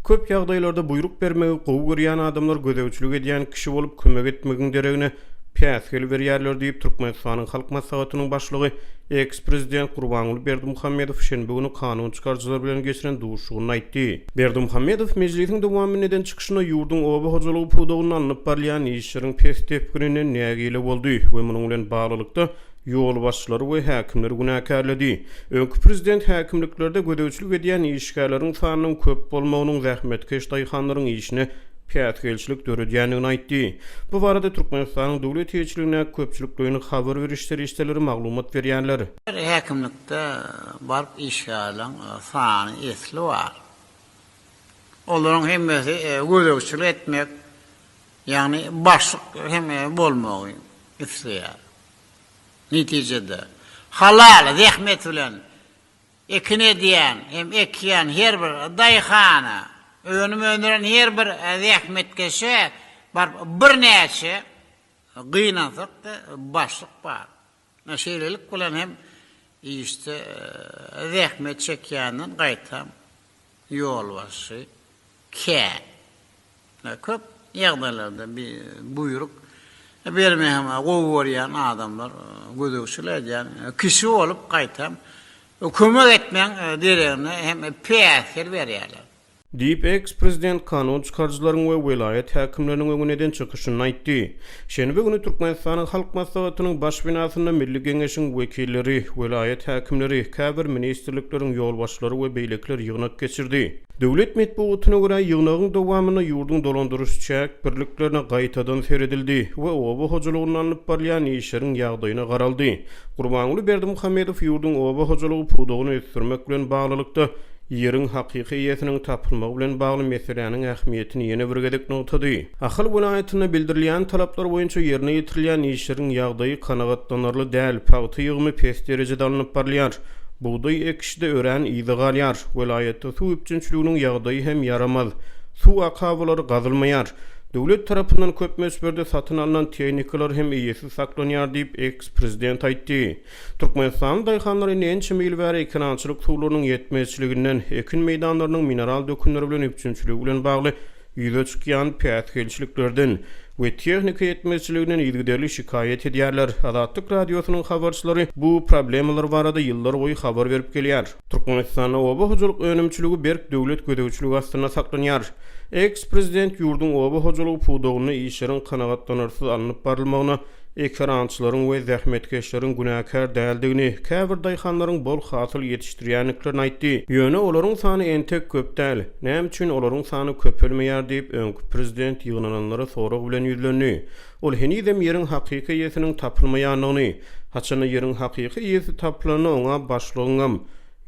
Köp ýagdaýlarda buýruk bermegi gowy görýän adamlar gözegçilik edýän kişi bolup kömek etmegiň deregine päsgel berýärler diýip, Türkmenistanyň Halk Maslahatynyň Başlygy, eks-prezident Gurbanguly Berdimuhamedow şenbe güni kanun çykaryjylar bilen geçiren duşuşygynda aýtdy. Berdimuhamedow mejlisiň dowamynda eden çykyşynda ýurduň oba hojalygy pudagynda alnyp barylýan işleriň pes depginine nägile boldy we munuň bilen baglylykda, ýolbaşçylary we häkimleri günäkärledi. Öňki prezident häkimliklerde gözegçilik edýän işgärleriň sanynyň köp bolmagynyň zähmetkeş daýhanlaryň işine päsgelçilik döredýändigini aýtdy. Bu barada Türkmenistanyň döwlet eýeçiligindäki köpçülikleýin habar beriş serişdeleri maglumat berýärler. Her häkimlikde baryp işgärleriň sany esli bar. Olaryň hemmesi gözegçilik etmek, ýagny başlyk hem bolmagy isleýär. Netijede, halal zähmet bilen ekin edýän hem ekýän her bir daýhana, önüm öndüren her bir zähmetkeşe baryp birnäçe gynansak-da başlyk bar. Şeýlelik bilen hem işde zähmet çekýänden gaýtam ýolbaşçy, kä, ne köp ýagdaýlarda bi buýruk bermeý hem gowy görýän adamlar gözegçilik edýän kişi bolup gaýtam kömek etmeň deregine hem päsgel berýärler. Diýip, eks-prezident kanun çykaryjylaryň we welaýat häkimleriniň öňüne eden çykyşynda aýtdy. Şenbe güni Türkmenistanyň Halk Maslahatynyň Baş binasynda Milli Geňeşiň wekilleri, welaýat häkimleri, käbir ministrlikleriň ýolbaşçylary we beýlekiler ýygnak geçirdi. Döwlet metbugatyna görä, ýygnagyň dowamynda ýurduň dolandyryş-çäk birliklerine gaýtadan seredildi we oba hojalygynda alnyp barylýan işleriň ýagdaýyna garaldy. Gurbanguly Berdimuhamedow ýurduň oba hojalygy pudagyny ösdürmek bilen baglylykda, ýeriň hakyky eýesiniň tapylmagy bilen bagly meseläniň ähmiýetini ýene bir gezek nygtady. Ahal welaýatynda bildirilýän talaplar boýunça ýerine ýetirilýän işleriň ýagdaýy kanagatlanarly däl, pagta ýygymy pes derejede alnyp barylýar. Bugdaý ekişde örän yza galýar. Welaýatda suw üpjünçiliginiň ýagdaýy hem ýaramaz. Suw akabalary gazylmaýar. Döwlet tarapyndan köp möçberde satyn alnan tehnikalar hem eýesiz saklanýar diýip, eks-prezident aýtdy. Türkmenistanyň daýhanlary ençeme ýyl bäri ekerançylyk suwlarynyň ýetmezçiliginden, ekin meýdanlarynyň mineral dökünler bilen üpjünçiligi bilen bagly ýüze çykýan päsgelçiliklerden we tehnika ýetmezçiliginden yzygiderli şikaýat edýärler. Azatlyk Radiosynyň habarçylary bu problemalar barada ýyllarboýy habar berip gelýär. Türkmenistanda oba hojalyk önümçiligi berk döwlet gözegçiligi astynda saklanýar. Eks-prezident ýurduň oba hojalygy pudagynda işleriň kanagatlanarsyz alnyp barylmagyna ekerançylaryň we zähmetkeşleriň günäkär däldigini, käbir daýhanlaryň bol hasyl ýetişdirýändiklerini aýtdy. Ýöne olaryň sany entek köp däl. Näme üçin olaryň sany köpelmeýär diýip, öňki prezident ýygnananlara sorag bilen ýüzlendi. Ol henizem ýeriň hakyky eýesiniň tapylmaýandygyny, haçanda ýeriň hakyky eýesi tapylanda oňa başlygyňam,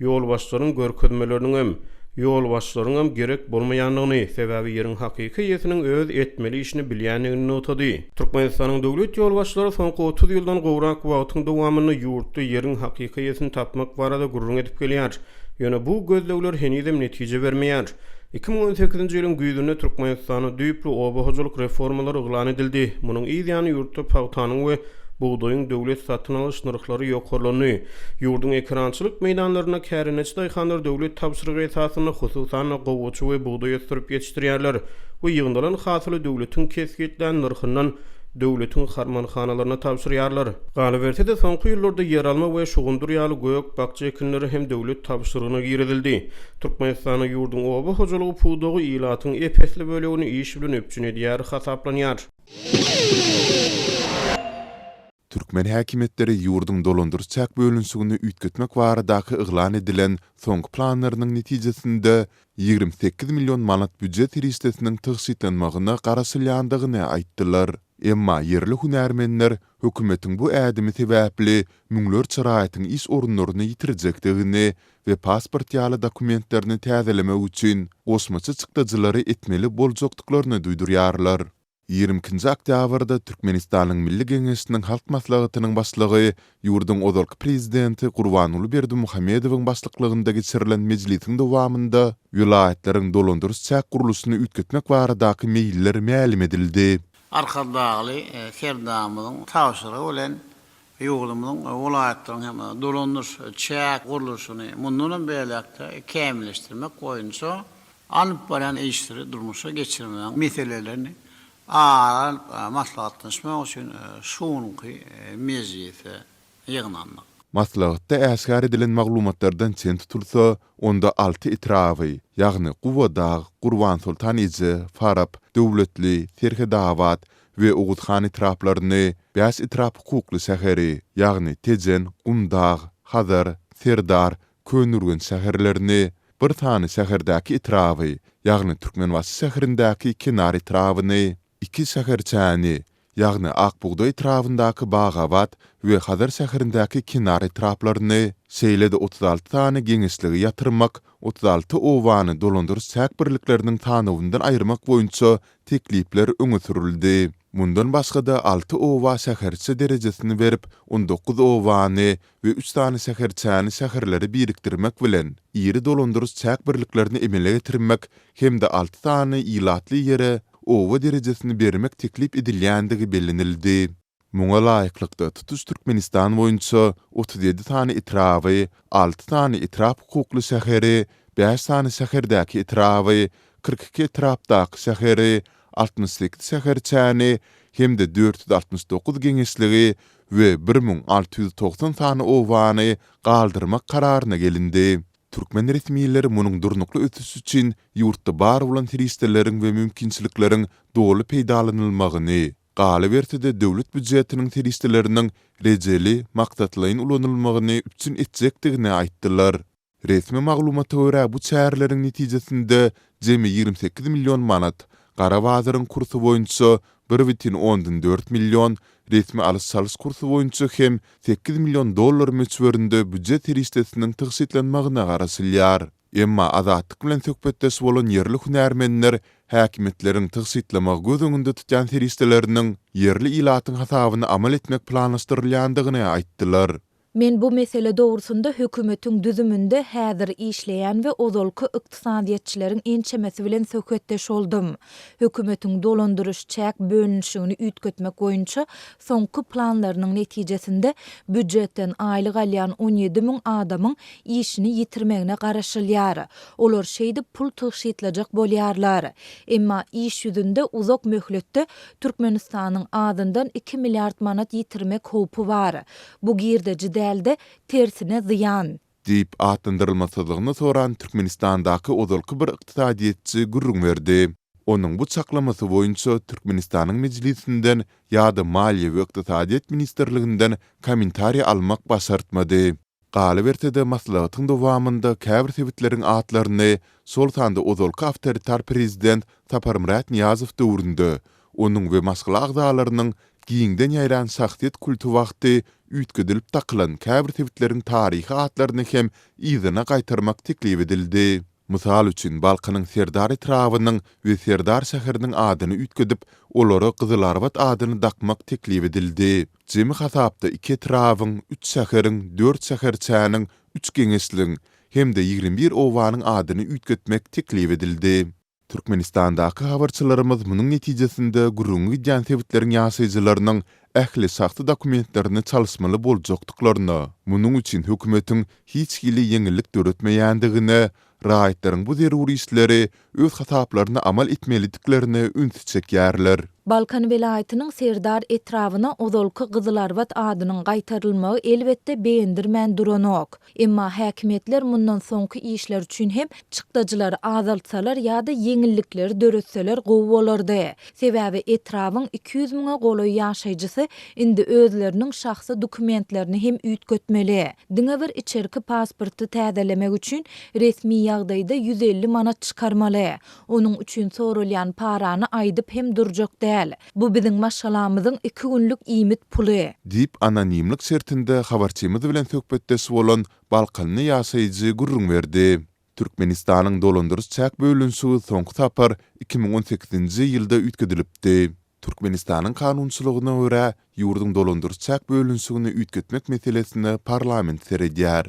Ýolbaşçylaryň görkezmeleriniňem, ýolbaşçylaryňam gerek bolmaýandygyny, sebäbi ýeriň hakyky eýesiniň öz etmeli işini bilýändigini nygtady. Türkmenistanyň döwlet ýolbaşçylary soňky otuz ýyldan gowrak wagtyň dowamynda ýurtda ýeriň hakyky eýesini tapmak barada gürrüň edip gelýär. Ýöne bu gözlegler henizem netije bermeýär. Iki müň on sekizinji ýylyň güýzünde Türkmenistanda düýpli oba hojalyk reformalary yglan edildi. Munuň yz ýany ýurtda pagtanyň we bugdaýyň döwlet satyn alyş nyrhlary ýokarlandy. Ýurduň ekerançylyk meýdanlarynda kärendeçi daýhanlar döwlet tabşyrygy esasynda hususan-da gowaça we bugdaý ösdürip ýetişdirýärler we ýygnalan hasyly döwletiň kesgitlän nyrhyndan döwletiň harmanhanalaryna tabşyrýarlar. Galyberse-de, soňky ýyllarda ýeralma we şugundyr ýaly gök-bakja ekinleri hem döwlet tabşyrygyna girizildi. Türkmenistanda ýurduň oba hojalygy pudagy ilatyň ep-esli bölegini iş bilen üpjün edýär hasaplanýar. Türkmen häkimiýetleri ýurduň dolandyryş-çäk bölünişigini üýtgetmek baradaky yglan edilen soňky planlarynyň netijesinde, ýigrimi sekiz million manat býujet serişdesiniň tygşytlanmagyna garaşylýandygyny aýtdylar. Emma ýerli hünärmenler hökümetiň bu ädimi sebäpli müňlerçe raýatyň iş orunlaryny ýitirjekdigini we pasport ýaly dokumentlerini täzelemek üçin goşmaça çykdajylary etmeli boljakdyklaryny duýdurýarlar. Ýigrimi ikinji oktýabrda Türkmenistanyň Milli Geňeşiniň Halk Maslahatynyň Başlygy, ýurduň ozalky Prezidenti Gurbanguly Berdimuhamedowyň başlyklygynda geçirilen mejlisiň dowamynda welaýatlaryň dolandyryş-çäk gurluşyny üýtgetmek baradaky meýiller mälim edildi. Arkadagly Serdarymyzyň tabşyrygy bilen Ýurdumyzyň welaýatlaryň hem dolanyş çäk gurluşyny mundan hem beýläk-de kämilleşdirmek boýunça alyp barýan işleri durmuşa geçirmegiň meselelerini ara alyp maslahatlaşmak üçin şu günki mejlise ýygnandyk. Maslahatda äşgär edilen maglumatlardan çen tutulsa, onda alty etraby, ýagny Gubadag, Gurbansoltan eje, Farap, Döwletli, Serhetabat, we Oguzhan etraplaryny, bäş etrap hukukly şäheri, ýagny Tejen, Gumdag, Hazar, Serdar, Köneürgenç şäherlerini, bir sany şäherdäki etraby, ýagny Türkmenbaşy şäherindäki kenar etrabyny, iki şäherçäni, ýagny Akbugda etrabyndaky Bagabat we Hazar şäherindäki kenar etraplaryny, şeýle-de otuz alty sany geňeşligi ýatyrmak, otuz alty obany dolandyryş-çäk birlikleriniň sanawyndan aýyrmak boýunça teklipler öňe sürüldi. Mundan başga-da alty oba şäherçe derejesini berip, on dokuz obany we üç sany şäherçäni şäherlere birikdirmek bilen, iri dolandyryş çäk birliklerini emele getirmek hem-de alty sany ilatly ýere oba derejesini bermek teklip edilýändigi bellenildi. Muňa laýyklykda, tutuş Türkmenistan boýunça otuz ýedi sany etraby, alty sany etrap hukukly şäheri, bäş sany şäherdäki etraby, kyrk iki etrapdaky şäheri, altmyş sekiz şäherçäni hem-de dört ýüz altmyş dokuz geňeşligi we bir müň alty ýüz togsan sany obany galdyrmak kararyna gelindi. Türkmen resmileri munuň durnukly ösüş üçin ýurtda bar bolan serişdeleriň we mümkinçilikleriň doly peýdalanylmagyny, Galyberse-de döwlet býujetiniň serişdeleriniň rejeli, maksatlaýyn ulanylmagyny üpjün etjekdigini aýtdylar. Resmi maglumata görä, bu çäreleriň netijesinde jemi ýigrimi sekiz million manat, gara bazaryň kursy boýunça bir bütin ondan dört million, resmi alyş-çalyş kursy boýunça hem sekiz million dollar möçberinde býujet serişdesiniň tygşytlanmagyna garaşylýar. Emma Azatlyk bilen söhbetdeş bolan ýerli hünärmenler häkimiýetleriň tygşytlamagy göz öňünde tutýan serişdeleriniň ýerli ilatyň hasabyna amal etmek planlaşdyrylýandygyny aýtdylar. Men bu mesele dogrusynda hökümetiň düzüminde häzir işleýän we ozalky ykdysadyýetçileriň ençemesi bilen söhbetdeş boldum. Hökümetiň dolandyryş-çäk bölünişigini üýtgetmek boýunça soňky planlarynyň netijesinde býujetden aýlyk alýan on ýedi müň adamyň işini ýitirmegine garaşylýar. Olar şeýdip pul tygşytlajak bolýarlar. Emma iş ýüzünde uzak möhletde Türkmenistanyň azyndan iki milliard manat ýitirmek howpy bar. Bu girdeji däl-de, tersine zyýan. Diýip, atlandyrylmasyzlygyny soran Türkmenistandaky ozalky bir ykdysadyýetçi gürrüň berdi. Onuň bu çaklamasy boýunça Türkmenistanyň Mejlisinden ýa-da Maliýe we ykdysadyýet ministrliginden kommentariý almak başartmady. Galyberse-de, maslahatyň dowamynda käbir sebitleriň atlaryny, şol sanda ozalky awtoritar prezident Saparmyrat Nyýazow döwründe onuň we maşgala agzalarynyň giňden ýaýran şahsyýet kulty wagty üýtgedilip dakylan käbir sebitleriň taryhy atlaryny hem yzyna gaýtarmak teklip edildi. Mysal üçin, Balkanyň Serdar etrabynyň we Serdar şäheriniň adyny üýtgedip, olara Gyzylarbat adyny dakmak teklip edildi. Jemi hasapda iki etrabyň, üç şäheriň, dört şäherçäniň, üç geňeşligiň hem-de ýigrimi bir obanyň adyny üýtgetmek teklip edildi. Türkmenistandaky habarçylarymyz munuň netijesinde gürrüňi gidýän sebitleriň ýaşaýjylarynyň ähli şahsy dokumentlerini çalyşmaly boljakdyklaryna, munuň üçin hökümetiň hiç hili ýeňillik döretmeýändigine, raýatlaryň bu zerur işleri öz hasaplaryna amal etmelidiklerine ünsi çekýärler. Balkan welaýatynyň Serdar etrabyna ozalky Gyzylarbat adynyň gaýtarylmagy elbetde begendirmän duranok. Emma häkimiýetler mundan soňky işler üçin hem çykdajylary azaltsalar ýa-da ýeňillikleri döretseler gowy bolardy. Sebäbi etrabyň iki ýüz müňe golaý ýaşaýjysy indi özleriniň şahsy dokumentlerini hem üýtgetmeli. Diňe bir içerki pasporty täzelemek üçin resmi ýagdaýda ýüz elli manat çykarmaly. Onuň üçin soralýan parany aýdyp hem durjak däl. Bu biziň maşgalamyzyň iki günlük iýmit puly. Diýip, anonimlik şertinde habarçymyz bilen söhbetdeş bolan balkanly ýaşaýjy gürrüň berdi. Türkmenistanyň dolandyryş-çäk bölünişigi soňky sapar iki müň on sekizinji ýylda üýtgedilipdi. Türkmenistanyň kanunçylygyna görä, ýurduň dolandyryş-çäk bölünişigini üýtgetmek meselesine parlament seredýär.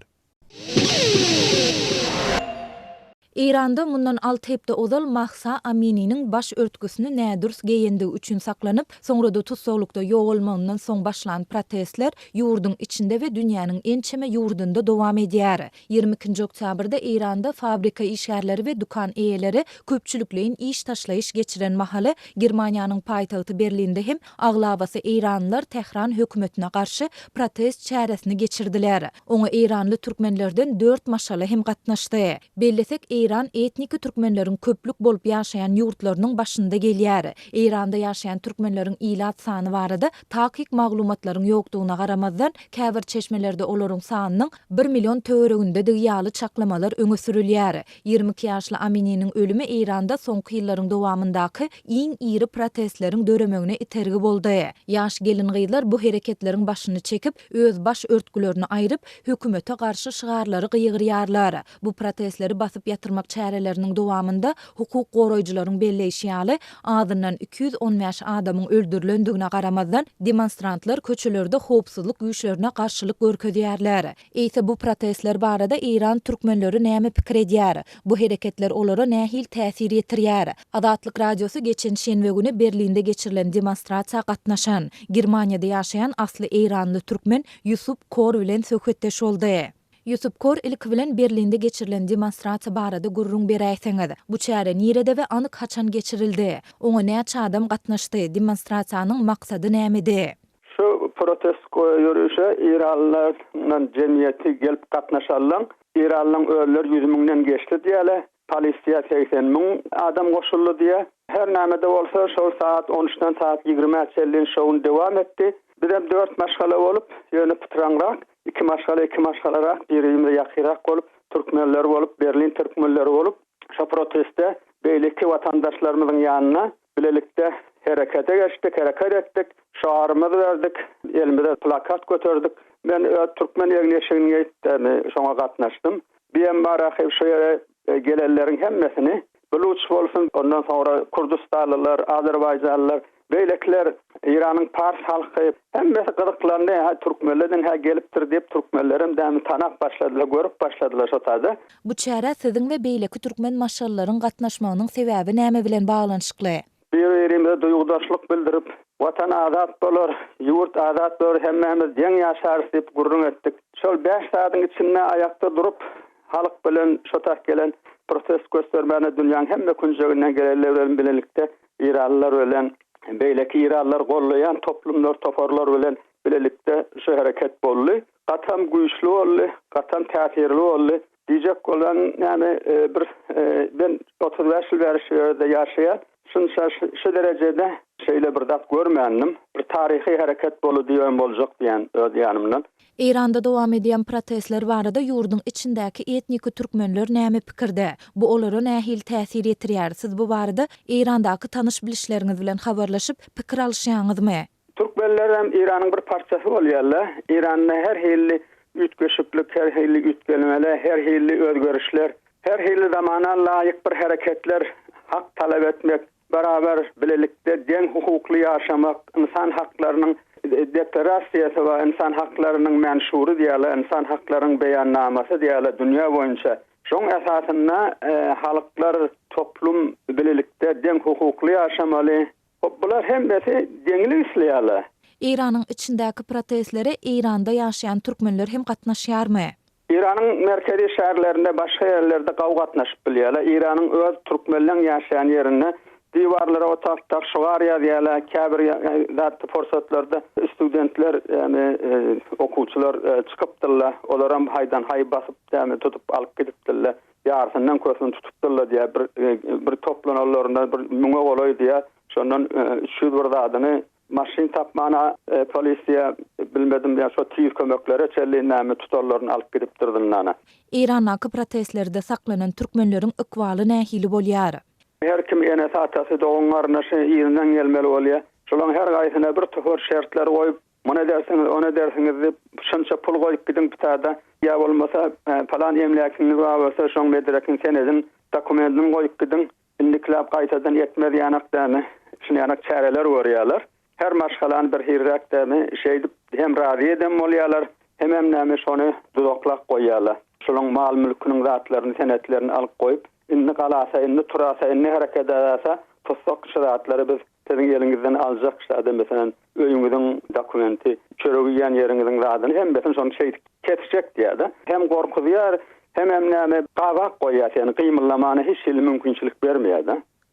Eýranda mundan alty hepde ozal Mahsa Amininiň baş örtgüsini nädürs geýendigi üçin saklanyp, soňra-da tussaglykda ýogalmagyndan soň başlan protestler ýurduň içinde we dünýäniň ençeme ýurdunda dowam edýär. Ýigrimi ikinji oktýabrda Eýranda fabrika işgärleri we dükan eýeleri köpçülikleýin iş taşlaýyş geçiren mahaly, Germaniýanyň paýtagty Berlinde hem aglabasy eýranlylar Tähran hökümetine garşy protest çäresini geçirdiler. Oňa eýranly türkmenlerden dört maşgala hem gatnaşdy. Bellesek, Eýran etniki türkmenleriň köplük bolup ýaşaýan ýurtlarynyň başynda gelýär. Eýranda ýaşaýan türkmenleriň ilat sany barada takyk maglumatlaryň ýokdugyna garamazdan, käbir çeşmelerde olaryň sanynyň bir million töweregindedigi ýaly çaklamalar öňe sürülýär. Ýigrimi iki ýaşly Amininiň ölümi Eýranda soňky ýyllaryň dowamyndaky iň iri protestleriň döremegine itergi boldy. Ýaş gelin-gyzlar bu hereketleriň başyny çekip, öz baş örtgülerini aýryp, hökümete garşy şygarlary gygyrýarlar. Bu protestleri basyp ýatyrmak çäreleriniň dowamynda, hukuk goraýjylaryň belleýşi ýaly, azyndan iki ýüz on bäş adamyň öldürilendigine garamazdan, demonstrantlar köçelerde howpsuzlyk güýçlerine garşylyk görkezýärler. Eýse bu protestler barada eýran türkmenleri näme pikir edýär? Bu hereketler olara nähili täsir ýetirýär? Azatlyk Radiosy geçen şenbe güni Berlinde geçirilen demonstrasiýa gatnaşan, Germaniýada ýaşaýan asly eýranly türkmen Ýusup Kor bilen söhbetdeş boldy. Ýusup Kor ilki bilen Berlinde geçirilen demonstrasiýa barada gürrüň beräýseňiz? Bu çäre nirede we anyk haçan geçirildi? Oňa näçe adam gatnaşdy? Demonstrasiýanyň maksady nämedi? Şu protest ýörişe eýranlylaryň jemgyýeti gelip gatnaşalyň, eýranlylaryň özleri ýüz müňden geçdi diýýärler. Polisiýa segsen müň adam goşuldy diýýär. Her näme-de bolsa, şol sagat on üçden sagat ýigrimä çenli şoun dowam etdi. Bizem dört maşgala bolup, ýöne pytraňrak, iki maşgala iki maşgalarak, biri-birimize ýakynrak bolup, türkmenler bolup, berlin türkmenleri bolup, şo protestde beýleki watandaşlarymyzyň ýanyna bilelikde herekete geçdik, hereket etdik, şarymyzy berdik, elimize plakat göterdik. Men öz türkmen egin-eşigini geýip, şoňa gatnaşdym. Biembarahim şu ýere gelenleriň hemmesini, Buluç bolsun, ondan soňra Kurdystanlylar, Azerbaýjanlylar, beýlekiler, Eýranyň pars halky, hemmesi gyzyklandy, hä, türkmenlerden hä gelipdir diýip, türkmenlerem dämi tanap başladylar, görüp başladylar şo taýda. Bu çärä siziň we beýleki türkmen maşgalalaryň gatnaşmagynyň sebäbi näme bilen baglanyşykly? Bir-birimize duýgudaşlyk bildirip, Watan azat bolar, ýurt azat bolar, hemmämiz deň ýaşarys diýip gürrüň etdik. Şol bäş sagadyň içinde aýakda durup, halk bilen şo tas gelen protest göstermäne dünýäň hemme künjeginden gelenler bilen bilelikde eýranlylar bilen beýleki eýranlylary gollaýan toplumlar, toparlar bilen bilelikde şu hereket boldy. Gatam güýçli boldy, gatam täsirli boldy. Diýjek bolan näme bir ben otuz bäş ýyl bäri şu ýerde ýaşaýan şunça şu derejede şeýle bir zat görmändim bir taryhy hereket bolu diýen boljak diýen öz ýanymdan. Eýranda dowam edýän protestler barada ýurduň içindäki etniki türkmenler näme pikirde? Bu olara nähili täsir ýetirýär? Siz bu barada Eýrandaky tanyş-bilişleriňiz bilen habarlaşyp, pikir alyşýaňyzmy? Türkmenler hem Iranyň bir parçasy bolýarlar. Iranda her hilli üýtgeşiklik, her hilli üýtgelmeler, her hilli özgerişler, her hilli zamana laýyk bir hereketler, hak talap etmek, barabar, bilelikde, deň hukukly ýaşamak, ynsan haklarynyň deklarassiýasy bar, ynsan haklarynyň menşury diýýärler, ynsan haklarynyň beýannamasy diýýärler dünýä boýunça. Şoň esasynda halklar, toplum bilelikde deň hukukly ýaşamaly. Hop bular hemmesi deňlik isleýärler. Eýranyň içindäki protestlere Eýranda ýaşaýan türkmenler hem gatnaşýarmy? Eýranyň merkezi şäherlerinde başga ýerlerde gaw gatnaşyp bilýärler. Eýranyň öz türkmenleň ýaşaýan ýerinde diwarlara otag tak şugar ýazýarlar. Käbir zatda pursatlarda studentler ýagny okuwçylar çykypdyrlar. Olaram haýdan haý basyp ýagny tutup alyp gidipdirler. Ýarysyndan kösün tutupdyrlar diýýär. Bir bir toplananlarynda bir müňe golaý diýýär. Şondan üç ýüz bir zadyny maşyn tapmana polisiýa bilmedim ýa şo tiz kömeklere çenli näme tutanlaryny alyp gidipdir zyndana. Eýrandaky protestlerde saklanan türkmenleriň ykbaly nähili bolýar? Her kim enesi-atasy, dogan-garyndaşy yzyndan gelmeli bolýar. Şolaryň her gaýsyna bir topar şertler goýup, Muny edersiňiz, ony edersiňiz diýip, şunça pul goýup gidiň pitada, ýa bolmasa, palan emläkiňiz bar bolsa, şoň bederekini sen ediň, dokumentini goýup gidiň, indikiläp gaýtadan etmez ýanak dämi, şuny ýanak çäreler görýärler. Her maşgalany bir hirräk dämi, şeýdip hem razy eden bolýarlar, hemem näme, şony duzaklap goýýarlar. Şunuň mal-mülküniň zatlaryny, senetlerini alyp goýup, indi galasa, indi turasa, indi hereket edäse, tutsak, şu zatlary biz Siziň eliňizden aljak zady, meselem, öýüňiziň dokumenti, çörek iýýän ýeriňiziň zadyny hemmesini şony şeýdip kesjek diýýär-de. Hem gorkuzýar, hemem näme, gabak goýýar seni, gymyllamana hiç hili mümkinçilik bermeýär-de.